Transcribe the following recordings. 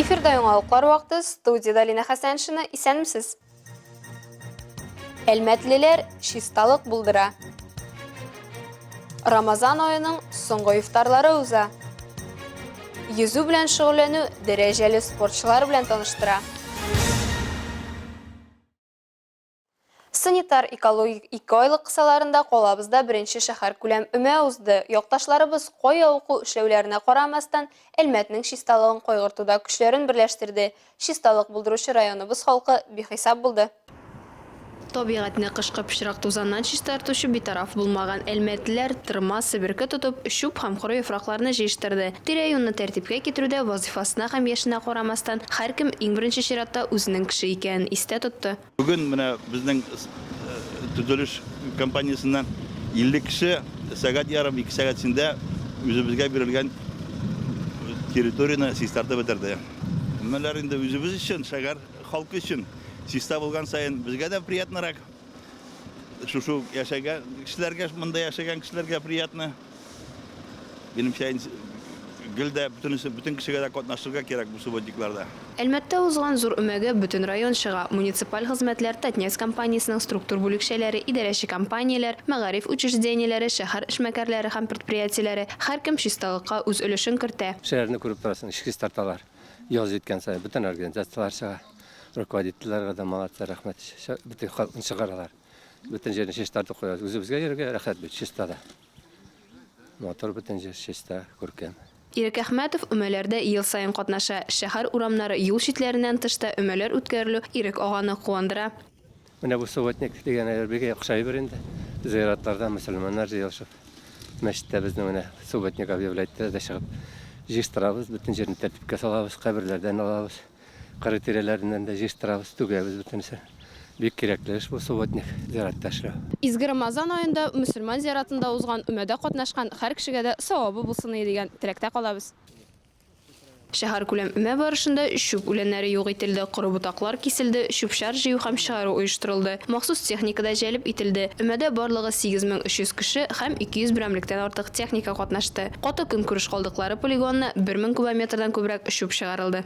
Эфирда яңалыклар вакыты, студиядә Лина Хәсәншина, исәнмесез! Әлмәтлеләр чисталык булдыра. Рамазан аеның соңгы ифтарлары уза. Йөзү белән шөгыльләнү дәрәҗәле спортчылар белән таныштыра. Санитар экологик ике айлык кысаларында калабызда беренче шәһәр күләм өмә узды. Якташларыбыз кая уку эшләүләренә карамастан, Әлмәтнең чисталыгын кайгыртуда көчләрен берләштерде. Чисталык булдыручы районыбыз халкы бихисап булды. Табигатьне кышкы пычрак тузаннан чистартучы битараф булмаган әлмәтлеләр тырма, себерке тотып, чүп һәм коры яфракларны җыештырды. Тирә-юньне тәртипкә китерүдә вазыйфасына һәм яшенә карамастан, һәркем, иң беренче чиратта, үзенең кеше икәнен истә тотты. Бүген менә безнең төзелеш компаниясеннән 50 кеше сәгать ярым, ике сәгать эчендә үзебезгә бирелгән территорияне чистартып бетерде. Һәммәләр инде үзебез өчен, шәһәр халкы өчен чиста булган саен, безгә дә приятнырак. Шушы ук яшәгән кешеләргә, монда яшәгән кешеләргә приятно. Минемчә, гел дә бөтен кешегә дә катнашырга кирәк бу субботникларда. Әлмәттә узган зур өмәгә бөтен район чыга, муниципаль хезмәтләр, Татнефть компаниясенең структур бүлекчәләре, идарәче компанияләр, мәгариф учреждениеләре, шәһәр эшмәкәрләре һәм предприятиеләре, һәркем чисталыкка үз өлешен кертә. Шәһәрне күреп торасың, эчке ис тарталар. Яз җиткән саен бөтен организацияләр чыга, руководительләргә дә молодцы, рәхмәт, бөтен халыкны чыгаралар. Бүтән җирне чистартып куябыз. Үзебезгә йөрергә рәхәт бит, чиста да. Мотор бүтән җир чиста, күркәм. Ирек Әхмәтов өмәләрдә ел саен катнаша. Шәһәр урамнары, юл читләреннән тыш та өмәләр үткәрелү Ирек аганы куандыра. Менә бу субботник дигән әйбер бик охшай бер инде. Зыяратларда мөселманнар җыелышып, мәчеттә безне менә субботник объявлять итә дә чыгып җыштырабыз, бөтен җирне тәртипкә салабыз, каберләрдән алабыз. Кыры тирәләреннән дә җыештырабыз, түгәбез бөтенесен. Бик кирәкле эш бу, субботник, зиярәттә эшләү. Изге Рамазан аенда мөселман зиаратында узган өмәдә катнашкан һәр кешегә дә савабы булсыныя дигән теләктә калабыз. Шәһәркүләм өмә барышында чүп үләннәре юк ителде, коры ботаклар киселде, чүп-чар җыю һәм чыгару оештырылды, махсус техника да җәлеп ителде. Өмәдә барлыгы 8300 кеше һәм 200 берәмлектән артык техника катнашты. Каты көнкүреш калдыклары полигонына бер мең кубометрдан күбрәк чүп чыгарылды.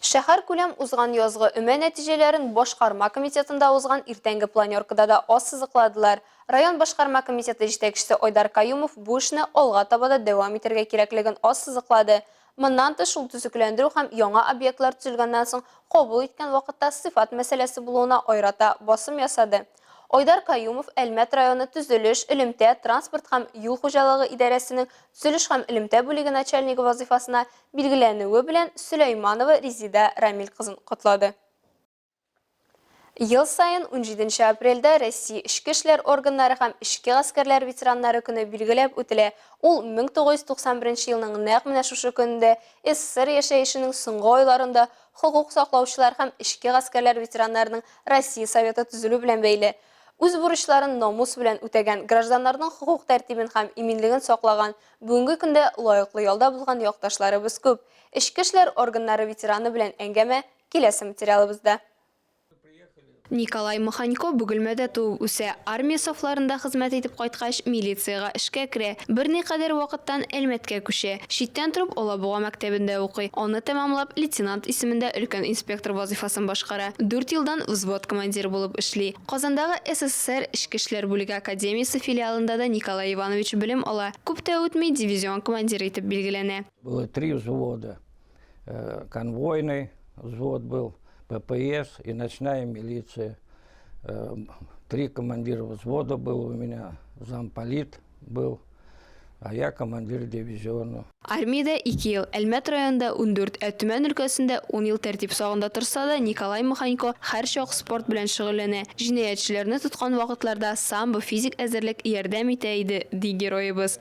Шәһәркүләм узган язгы өмә нәтиҗәләрен башкарма комитетында узган иртәнге планеркада да ассызыкладылар. Район башкарма комитеты җитәкчесе Айдар Каюмов бу эшне алга таба да дәвам итәргә кирәклеген ассызыклады. Моннан тыш, ул төзекләндерү һәм яңа объектлар төзелгәннән соң кабул иткән вакытта сыйфат мәсьәләсе булуына аерата басым ясады. Айдар Каюмов Әлмәт районы төзелеш, элемтә, транспорт һәм юл хуҗалыгы идарәсенең төзелеш һәм элемтә бүлеге начальнигы вазыйфасына билгеләнүе белән Сөләйманова Резида Рамил кызын котлады. Ел саен унҗиденче апрельдә Россия эчке эшләр органнары һәм эчке гаскәрләр ветераннары көне билгеләп үтелә, ул 1991 елның нәкъ менә шушы көнендә СССР яшәешенең соңгы айларында Хокук саклаучылар һәм эчке гаскәрләр ветераннарының Россия Советы төзелү белән бәйле үз бурычларын намус белән үтәгән, гражданнарның хокук тәртибен һәм иминлеген саклаган, бүгенге көндә лаеклы ялда булган якташларыбыз күп. Эчке эшләр органнары ветераны белән әңгәмә киләсе материалыбызда. Николай Маханько Бөгелмәдә туып үсә. Армия сафларында хезмәт итеп кайткач, милициягә эшкә керә. Берникадәр вакыттан Әлмәткә күчә. Читтән торып Алабуга мәктәбендә укый. Аны тәмамлап, лейтенант исемендә өлкән инспектор вазыйфасын башкара. Дүрт елдан взвод командиры булып эшли. Казандагы СССР Эчке эшләр бүлеге академиясе филиалында да Николай Иванович белем ала. Күп тә үтми, дивизион командиры итеп билгеләнә. Было три взвода. Э, конвойный взвод был, ППС и ночная милиция. Э, три командира взвода был у меня, замполит был, а я командир дивизиона. Армиядә 2 ел, Әлмәт районында 14, ә Төмән өлкәсендә 10 ел тәртип сагында торса да, Николай Маханько һәр чак спорт белән шөгыльләнә. Җинаятьчеләрне тоткан вакытларда самбо физик әзерлек ярдәм итә иде, ди героебыз.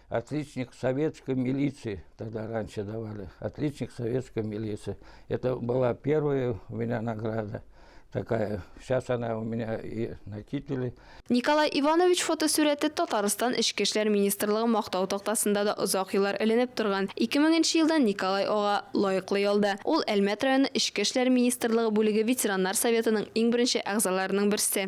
Отличник советской милиции, тогда раньше давали, отличник советской милиции. Это была первая у меня награда такая. Сейчас она у меня и на кителе. Николай Иванович фотосурәте Татарстан Эчке эшләр министрлыгы мактау тактасында да озак еллар эленеп торган. 2000 елда Николай ага лаеклы ялда. Ул Әлмәт районы Эчке эшләр министрлыгы бүлеге ветераннар советының иң беренче әгъзаларының берсе.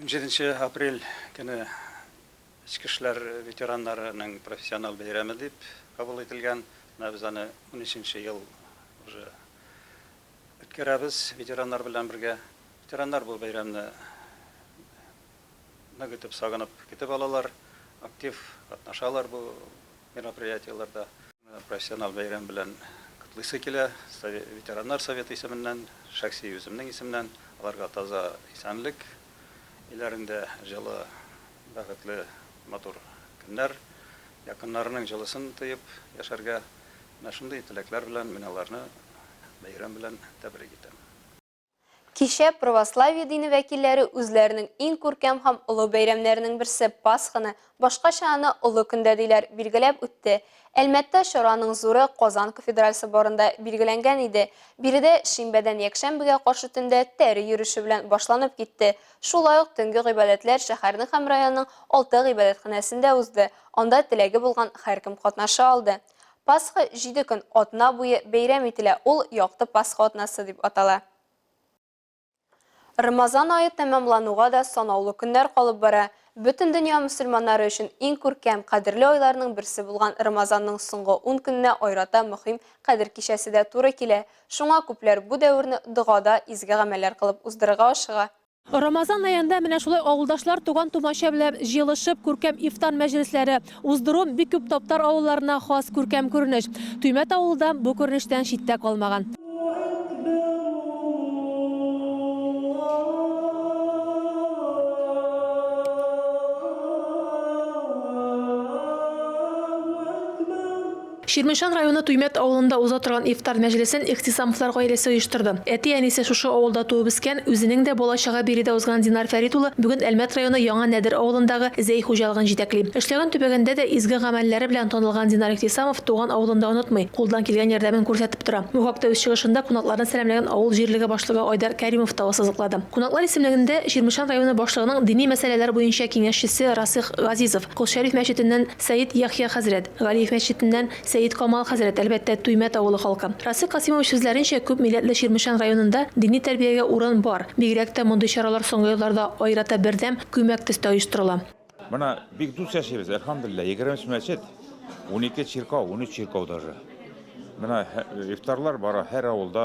Унҗиденче апрель көне Эчке эшләр ветераннарының профессиональ бәйрәме дип кабул ителгән. Менә без аны унөченче ел уже үткәрәбез ветераннар белән бергә. Ветераннар бу бәйрәмне нык итеп сагынып көтеп алалар, актив катнашалар бу мероприятиеләрдә. Профессиональ бәйрәм белән котлыйсы килә. Ветераннар советы исеменнән, шәхси үземнең исемнән аларга таза исәнлек, өйләрендә җылы, бәхетле, матур көннәр, якыннарының җылысын тоеп яшәргә, менә шундый теләкләр белән мин аларны бәйрәм белән тәбрик итәм. Кичә православие дине вәкилләре үзләренең иң күркәм һәм олы бәйрәмнәренең берсе Пасханы, башкача аны Олы көндә диләр, билгеләп үтте. Әлмәттә чараның зуры Казан кафедраль соборында билгеләнгән иде. Биредә шимбәдән якшәмбегә каршы төндә тәре йөреше белән башланып китте. Шулай ук төнге гыйбадәтләр шәһәрнең һәм районның алты гыйбадәтханәсендә узды, анда теләге булган һәркем катнаша алды. Пасха җиде көн, атна буе бәйрәм ителә, ул Якты Пасха атнасы дип атала. Рамазан ае тәмамлануга да санаулы көннәр калып бара. Бөтен дөнья мөселманнары өчен иң күркәм, кадерле айларның берсе булган Рамазанның соңгы ун көненә аерата мөһим Кадер кичәсе дә туры килә. Шуңа күпләр бу дәверне догада, изге гамәлләр кылып уздырырга ашыга. Рамазан аенда менә шулай авылдашлар, туган-тумача белән җыелышып, күркәм ифтар мәҗлесләре уздыру бик күп таптар авылларына хас күркәм күренеш. Төймәт авылы да бу күренештән читтә калмаган. Чирмешән районы Туймәт авылында уза торган ифтар мәҗлесен Ихтисамовлар гаиләсе оештырды. Әти-әнисе шушы авылда туып-үскән, үзенең дә бала-чага биредә узган Динар Фәрит улы бүген Әлмәт районы Яңа Нәдер авылындагы Зәй хуҗалыгын җитәкли. Эшләгән төбәгендә дә изге гамәлләре белән танылган Динар Ихтисамов туган авылын да онытмый, кулдан килгән ярдәмен күрсәтеп тора. Бу хакта үз чыгышында кунакларны сәламләгән авыл җирлеге башлыгы Айдар Кәримов та ассызыклады. Кунаклар исемлегендә Чирмешән районы башлыгының дини мәсьәләләр буенча киңәшчесе Расыйх Газизов, Кол Шәриф мәчетеннән, Сәет Яхъя хәзрәт, Галиев мәчетеннән, Сәет Камал хәзрәт, әлбәттә, Туймәт авылы халкы. Расыйк Касыймович сүзләренчә, күп милләтле Чирмешән районында дини тәрбиягә урын бар, бигрәк тә мондый чаралар соңгы елларда аерата бердәм, күмәк төстә оештырыла. Менә бик дус яшибез, әлхәмдүлилләһ, егерме өч мәчет, унике чиркәү, унөч чиркәү даже. Менә ифтарлар бара һәр авылда.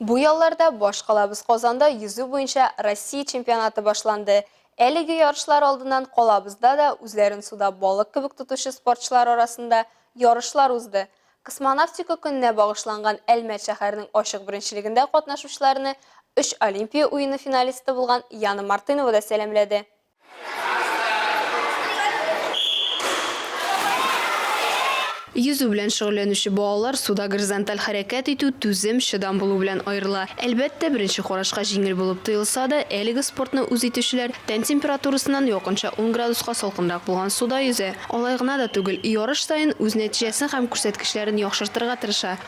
Бу ялларда башкалабыз Казанда йөзү буенча Россия чемпионаты башланды. Әлеге ярышлар алдыннан калабызда да үзләрен суда балык кебек тотучы спортчылар арасында ярышлар узды. Космонавтика көненә багышланган Әлмәт шәһәренең ачык беренчелегендә катнашучыларны өч Олимпия уены финалисты булган Яна Мартынова да сәламләде. Йөзү белән шөгыльләнүче балалар суда горизонталь хәрәкәт итү, түзем, чыдам булу белән аерыла. Әлбәттә, беренче карашка җиңел булып тоелса да, әлеге спортны үз итүчеләр тән температурасыннан якынча ун градуска салкынрак булган суда йөзә. Алай гына да түгел, ярыш саен үз нәтиҗәсен һәм күрсәткечләрен яхшыртырга тырыша.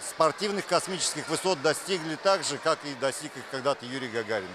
Спортивных космических высот достигли так же, как и достиг их когда-то Юрий Гагарин.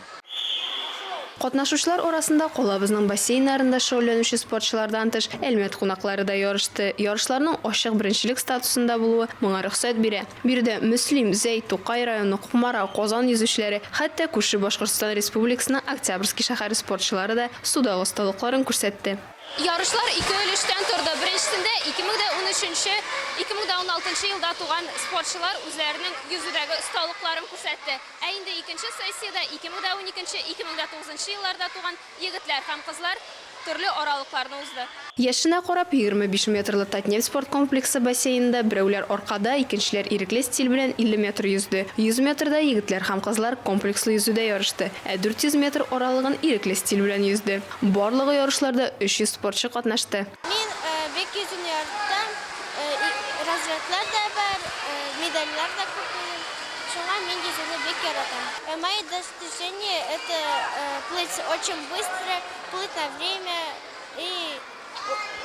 Катнашучылар арасында калабызның бассейннарында шөгыльләнүче спортчылардан тыш, Әлмәт кунаклары да ярышты. Ярышларның ачык беренчелек статусында булуы моңа рөхсәт бирә. Биредә Мөслим, Зәй, Тукай районы, Кукмара, Казан йөзүчеләре, хәтта күрше Башкортстан Республикасының Октябрьский шәһәре спортчылары да судагы осталыкларын күрсәтте. Ярышлар ике өлештән торды. Беренчесендә 2013-нче, 2016-нчы елда туган спортчылар үзләренең йөзүдәге осталыкларын күрсәтте. Ә инде икенче сессиядә 2012-нче, 2009 нчы елларда туган егетләр һәм кызлар төрле аралыкларны узды. Яшенә карап, егерме биш метрлы Татнефть спорт комплексы бассейнында берәүләр аркада, икенчеләр ирекле стиль белән 50 метр йөзде. 100 метрда егетләр һәм кызлар комплекслы йөзүдә ярышты, ә 400 метр аралыгын ирекле стиль белән йөзде. Барлыгы ярышларда 300 спортчы катнашты. Мин бик йөзүне яратам, разрядлар да бар, медальләр дә күп минем, шуңа мин йөзүне бик яратам. Мои достижения это плыть очень быстро, плыть на время и.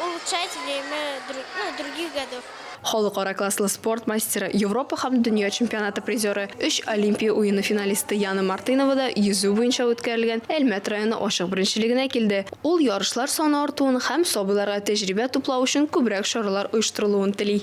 Улучшать время ну других годов. Халыкара класслы спорт мастеры, Европа һәм дөнья чемпионаты призеры, өч Олимпия уены финалисты Яна Мартынова да йөзү буенча үткәрелгән Әлмәт районы ачык беренчелегенә килде. Ул ярышлар саны артуын һәм сабыйларга тәҗрибә туплау өчен күбрәк чаралар оештырылуын тели.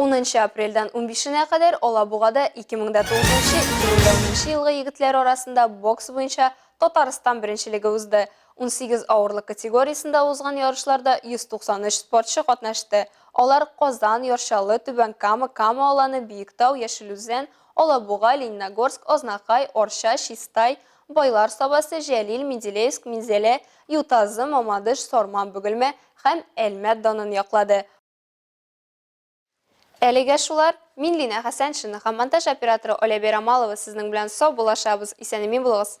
Унынчы апрельдән унбишенә кадәр Алабугада 2009-2010 елгы егетләр арасында бокс буенча Татарстан беренчелеге узды. Унсигез авырлык категориясендә узган ярышларда 193 спортчы катнашты. Алар Казан, Яр-Чаллы, Түбән Кама, Кама Аланы, Биектау, Яшел Үзән, Алабуга, Лениногорск, Азнакай, Арча, Чистай, Байлар Сабасы, Җәлил, Менделеевск, Минзәлә, Ютазы, Мамадыш, Сарман, Бөгелмә һәм Әлмәт данын яклады. Әлегә шулар, мин Лина Хәсәншина һәм монтаж операторы Оля Берамалова сезнең белән сау булашабыз, исәнемин булыгыз.